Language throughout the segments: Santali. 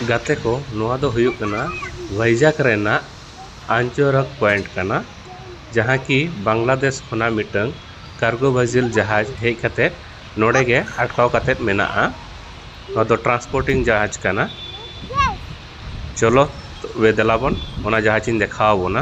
ᱜᱟᱛᱮ ᱠᱚ ᱱᱚᱣᱟ ᱫᱚ ᱦᱩᱭᱩᱜ ᱠᱟᱱᱟ ᱵᱷᱟᱭᱡᱟᱜᱽ ᱨᱮᱱᱟᱜ ᱟᱱᱪᱚᱨᱚᱠ ᱯᱚᱭᱮᱱᱴ ᱠᱟᱱᱟ ᱡᱟᱦᱟᱸ ᱠᱤ ᱵᱟᱝᱞᱟᱫᱮᱥ ᱠᱷᱚᱱᱟᱜ ᱢᱤᱫᱴᱟᱹᱝ ᱠᱟᱨᱜᱳ ᱵᱷᱟᱡᱤᱞ ᱡᱟᱦᱟᱡᱽ ᱦᱮᱡ ᱠᱟᱛᱮ ᱱᱚᱸᱰᱮ ᱜᱮ ᱟᱴᱠᱟᱣ ᱠᱟᱛᱮ ᱢᱮᱱᱟᱜᱼᱟ ᱱᱚᱣᱟ ᱫᱚ ᱴᱨᱟᱱᱥᱯᱳᱨᱴᱤᱝ ᱡᱟᱦᱟᱡᱽ ᱠᱟᱱᱟ ᱪᱚᱞᱚ ᱛᱚᱵᱮ ᱫᱮᱞᱟ ᱵᱚᱱ ᱚᱱᱟ ᱡᱟᱦᱟᱡᱽ ᱤᱧ ᱫᱮᱠᱷᱟᱣ ᱟᱵᱚᱱᱟ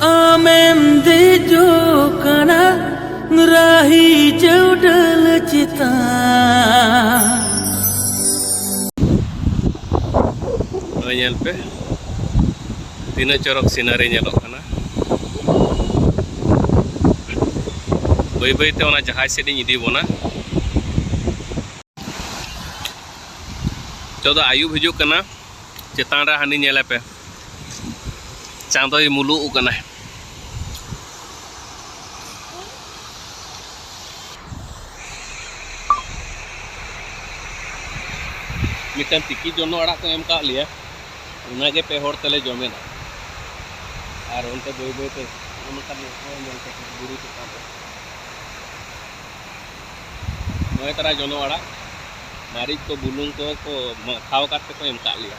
ᱟᱢᱮᱢ ᱫᱮᱡᱚᱜ ᱠᱟᱱᱟ ᱨᱟᱦᱤ ᱪᱟᱹᱣᱰᱟᱹᱞ ᱪᱮᱛᱟᱱ ᱱᱚᱜᱼᱚᱭ ᱧᱮᱞ ᱯᱮ ᱛᱤᱱᱟᱹᱜ ᱪᱚᱨᱚᱠ ᱥᱤᱱᱟᱨᱤ ᱧᱮᱞᱚᱜ ᱠᱟᱱᱟ ᱵᱟᱹᱭ ᱵᱟᱹᱭ ᱛᱮ ᱚᱱᱟ ᱡᱟᱦᱟᱸᱭ ᱥᱮᱫ ᱤᱧ ᱤᱫᱤ ᱵᱚᱱᱟ ᱱᱤᱛᱚᱜ ᱫᱚ ᱟᱹᱭᱩᱵ ᱦᱤᱡᱩᱜ ᱠᱟᱱᱟ ᱪᱮᱛᱟᱱ ᱨᱮ ᱦᱟᱹᱱᱤ ᱧᱮᱞᱮ ᱯᱮ ᱪᱟᱸᱫᱚᱭ ᱢᱩᱞᱩᱜ ᱠᱟᱱᱟ ᱢᱤᱫᱴᱟᱝ ᱛᱤᱠᱤ ᱡᱚᱱᱚ ᱟᱲᱟᱜ ᱠᱚ ᱮᱢ ᱠᱟᱜ ᱞᱮᱭᱟ ᱚᱱᱟᱜᱮ ᱯᱮ ᱦᱚᱲ ᱛᱮᱞᱮ ᱡᱚᱢᱮᱫᱟ ᱟᱨ ᱚᱱᱛᱮ ᱵᱟᱹᱭ ᱵᱟᱹᱭ ᱛᱮ ᱚᱱᱠᱟ ᱧᱮᱞ ᱠᱟᱛᱮ ᱵᱩᱨᱩ ᱪᱮᱛᱟᱱ ᱨᱮ ᱱᱚᱜᱼᱚᱭ ᱛᱟᱨᱟ ᱡᱚᱱᱚ ᱟᱲᱟᱜ ᱢᱟᱹᱨᱤᱪ ᱠᱚ ᱵᱩᱞᱩᱝ ᱠᱚ ᱠᱚ ᱢᱟᱠᱷᱟᱣ ᱠᱟᱛᱮ ᱠᱚ ᱮᱢ ᱠᱟᱜ ᱞᱮᱭᱟ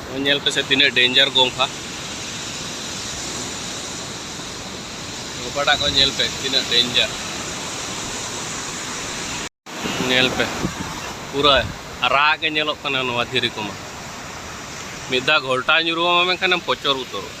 ᱱᱚᱜᱼᱚᱭ ᱧᱮᱞ ᱯᱮᱥᱮ ᱛᱤᱱᱟᱹᱜ ᱰᱮᱧᱡᱟᱨ ᱜᱚᱝᱠᱷᱟ ᱜᱚᱯᱟᱴᱟᱜ ᱠᱚ ᱧᱮᱞ ᱯᱮ ᱛᱤᱱᱟᱹᱜ ᱰᱮᱧᱡᱟᱨ ᱧᱮᱞ ᱯᱮ ᱯᱩᱨᱟᱹ ᱟᱨᱟᱜ ᱜᱮ ᱧᱮᱞᱚᱜ ᱠᱟᱱᱟ ᱱᱚᱣᱟ ᱫᱷᱤᱨᱤ ᱠᱚᱢᱟ ᱢᱤᱫ ᱫᱷᱟᱣ ᱜᱷᱚᱞᱴᱟ ᱧᱩᱨᱩᱣᱟᱢᱟ ᱢᱮᱱᱠᱷᱟᱱᱮᱢ ᱯᱚᱪᱚᱨ ᱩᱛᱟᱹᱨᱚᱜᱼᱟ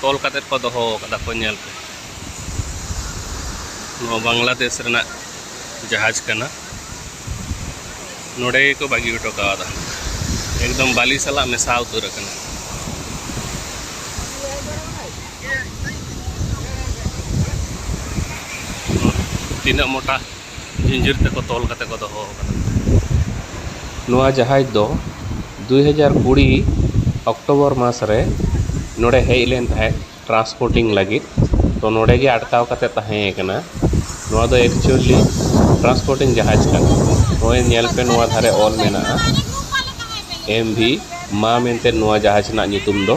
ᱛᱚᱞ ᱠᱟᱛᱮ ᱠᱚ ᱫᱚᱦᱚ ᱟᱠᱟᱫᱟ ᱠᱚ ᱧᱮᱞ ᱯᱮ ᱱᱚᱣᱟ ᱵᱟᱝᱞᱟᱫᱮᱥ ᱨᱮᱱᱟᱜ ᱡᱟᱦᱟᱡᱽ ᱠᱟᱱᱟ ᱱᱚᱰᱮ ᱜᱮᱠᱚ ᱵᱟᱹᱜᱤ ᱦᱚᱴᱚ ᱠᱟᱣᱫᱟ ᱮᱠᱫᱚᱢ ᱵᱟᱞᱤ ᱥᱟᱞᱟᱜ ᱢᱮᱥᱟ ᱩᱛᱟᱹᱨ ᱟᱠᱟᱱᱟ ᱛᱤᱱᱟᱹᱜ ᱢᱚᱴᱟ ᱡᱤᱸᱡᱤᱨ ᱛᱮᱠᱚ ᱛᱚᱞ ᱠᱟᱛᱮ ᱠᱚ ᱫᱚᱦᱚ ᱟᱠᱟᱫᱟ ᱱᱚᱣᱟ ᱡᱟᱦᱟᱡᱽ ᱫᱚ ᱫᱩᱭ ᱦᱟᱡᱟᱨ ᱠᱩᱲᱤ ᱚᱠᱴᱳᱵᱚᱨ ᱢᱟᱥ ᱨᱮ ᱱᱚᱰᱮ ᱦᱮᱡ ᱞᱮᱱ ᱛᱟᱦᱮᱸᱫ ᱴᱨᱟᱱᱥᱯᱳᱨᱴᱤᱝ ᱞᱟᱹᱜᱤᱫ ᱛᱚ ᱱᱚᱰᱮ ᱜᱮ ᱟᱴᱠᱟᱣ ᱠᱟᱛᱮ ᱛᱟᱦᱮᱸ ᱠᱟᱱᱟ ᱱᱚᱣᱟ ᱫᱚ ᱮᱠᱪᱩᱭᱮᱞᱤ ᱴᱨᱟᱱᱥᱯᱳᱨᱴᱤᱝ ᱡᱟᱦᱟᱡᱽ ᱠᱟᱱᱟ ᱱᱚᱜᱼᱚᱸᱭ ᱧᱮᱞ ᱯᱮ ᱱᱚᱣᱟ ᱫᱷᱟᱨᱮ ᱚᱞ ᱢᱮᱱᱟᱜᱼᱟ ᱮᱢ ᱵᱷᱤ ᱢᱟ ᱢᱮᱱᱛᱮ ᱱᱚᱣᱟ ᱡᱟᱦᱟᱡᱽ ᱨᱮᱱᱟᱜ ᱧᱩᱛᱩᱢ ᱫᱚ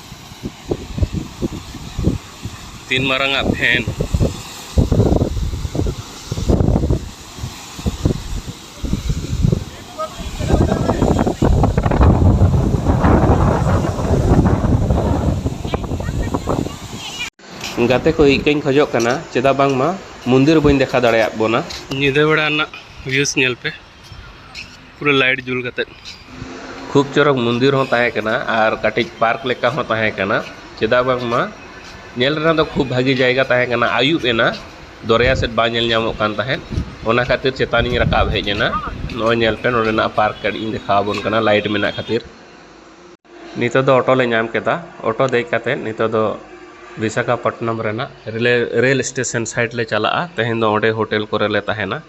ᱛᱤᱱ ᱢᱟᱨᱟᱝ ᱟᱜ ᱯᱷᱮᱱ ᱜᱟᱛᱮ ᱠᱚ ᱤᱠᱟᱹᱧ ᱠᱷᱚᱡᱚᱜ ᱠᱟᱱᱟ ᱪᱮᱫᱟᱜ ᱵᱟᱝᱢᱟ ᱢᱚᱱᱫᱤᱨ ᱵᱟᱹᱧ ᱫᱮᱠᱷᱟᱣ ᱫᱟᱲᱮᱭᱟᱜ ᱵᱚᱱᱟ ᱧᱤᱫᱟᱹ ᱵᱮᱲᱟ ᱨᱮᱱᱟᱜ ᱵᱷᱤᱭᱩᱥ ᱧᱮᱞ ᱯᱮ ᱯᱩᱨᱟᱹ ᱞᱟᱭᱤᱴ ᱡᱩᱞ ᱠᱟᱛᱮᱫ ᱠᱷᱩᱵ ᱪᱚᱨᱚᱠ ᱢᱚᱱᱫᱤᱨ ᱦᱚᱸ ᱛᱟᱦᱮᱸ ᱠᱟᱱᱟ ᱟᱨ ᱠᱟᱹᱴᱤᱡ ᱯᱟᱨᱠ ᱞᱮᱠᱟ ᱦᱚᱸ ᱛᱟᱦᱮᱸ ᱠᱟᱱᱟ ᱪᱮᱫᱟᱜ ᱵᱟᱝᱢᱟ ᱧᱮᱞ ᱨᱮᱱᱟᱜ ᱫᱚ ᱠᱷᱩᱵ ᱵᱷᱟᱹᱜᱤ ᱡᱟᱭᱜᱟ ᱛᱟᱦᱮᱸ ᱠᱟᱱᱟ ᱟᱹᱭᱩᱵ ᱮᱱᱟ ᱫᱚᱨᱭᱟ ᱥᱮᱫ ᱵᱟᱝ ᱧᱮᱞ ᱧᱟᱢᱚᱜ ᱠᱟᱱ ᱛᱟᱦᱮᱸᱫ ᱚᱱᱟ ᱠᱷᱟᱹᱛᱤᱨ ᱪᱮᱛᱟᱱᱤᱧ ᱨᱟᱠᱟᱵ ᱦᱮᱡ ᱮᱱᱟ ᱱᱚᱜᱼᱚᱭ ᱧᱮᱞ ᱯᱮ ᱱᱚᱰᱮᱱᱟᱜ ᱯᱟᱨᱠ ᱠᱟᱹᱴᱤᱡ ᱤᱧ ᱫᱮᱠᱷᱟᱣ ᱟᱵᱚᱱ ᱠᱟᱱᱟ ᱞᱟᱭᱤᱴ ᱢᱮᱱᱟᱜ ᱠᱷᱟᱹᱛᱤᱨ ᱱᱤᱛᱚᱜ ᱫᱚ ᱚᱴᱳ ᱞᱮ ᱧᱟᱢ ᱠᱮᱫᱟ ᱚᱴᱳ ᱫᱮᱡ ᱠᱟᱛᱮᱫ ᱱᱤᱛᱚᱜ ᱫᱚ ᱵᱤᱥᱟᱠᱷᱟᱯᱚᱴᱱᱚᱢ ᱨᱮᱱᱟᱜ ᱨᱮᱞ ᱥᱴᱮᱥᱚᱱ ᱥᱟᱭᱤᱰ ᱞᱮ ᱪᱟᱞᱟᱜᱼᱟ ᱛᱮᱦᱮᱧ ᱫᱚ ᱚᱸᱰᱮ ᱦᱳᱴᱮᱞ ᱠᱚᱨᱮ ᱞᱮ ᱛᱟᱦᱮᱱᱟ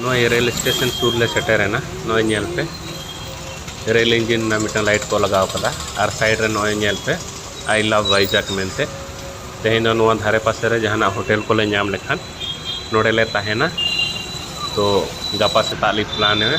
ᱱᱚᱜᱼᱚᱭ ᱨᱮᱞ ᱥᱴᱮᱥᱚᱱ ᱥᱩᱨ ᱞᱮ ᱥᱮᱴᱮᱨᱮᱱᱟ ᱱᱚᱜᱼᱚᱭ ᱧᱮᱞ ᱯᱮ ᱨᱮᱞ ᱤᱧᱡᱤᱱ ᱨᱮᱱᱟᱜ ᱢᱤᱫᱴᱟᱝ ᱞᱟᱭᱤᱴ ᱠᱚ ᱞᱟᱜᱟᱣ ᱠᱟᱫᱟ ᱟᱨ ᱥᱟᱭᱤᱰ ᱨᱮ ᱱᱚᱜᱼᱚᱭ ᱧᱮᱞ ᱯᱮ ᱟᱭ ᱞᱟᱵᱷ ᱵᱷᱟᱭᱡᱟᱠ ᱢᱮᱱᱛᱮ ᱛᱮᱦᱮᱧ ᱫᱚ ᱱᱚᱣᱟ ᱫᱷᱟᱨᱮ ᱯᱟᱥᱮ ᱨᱮ ᱡᱟᱦᱟᱱᱟᱜ ᱦᱳᱴᱮᱞ ᱠᱚᱞᱮ ᱧᱟᱢ ᱞᱮᱠᱷᱟᱱ ᱱᱚᱰᱮᱞᱮ ᱛᱟᱦᱮᱱᱟ ᱛᱚ ᱜᱟᱯᱟ ᱥᱮᱛᱟᱜ ᱞᱮ ᱯᱞᱟᱱᱮᱜᱼᱟ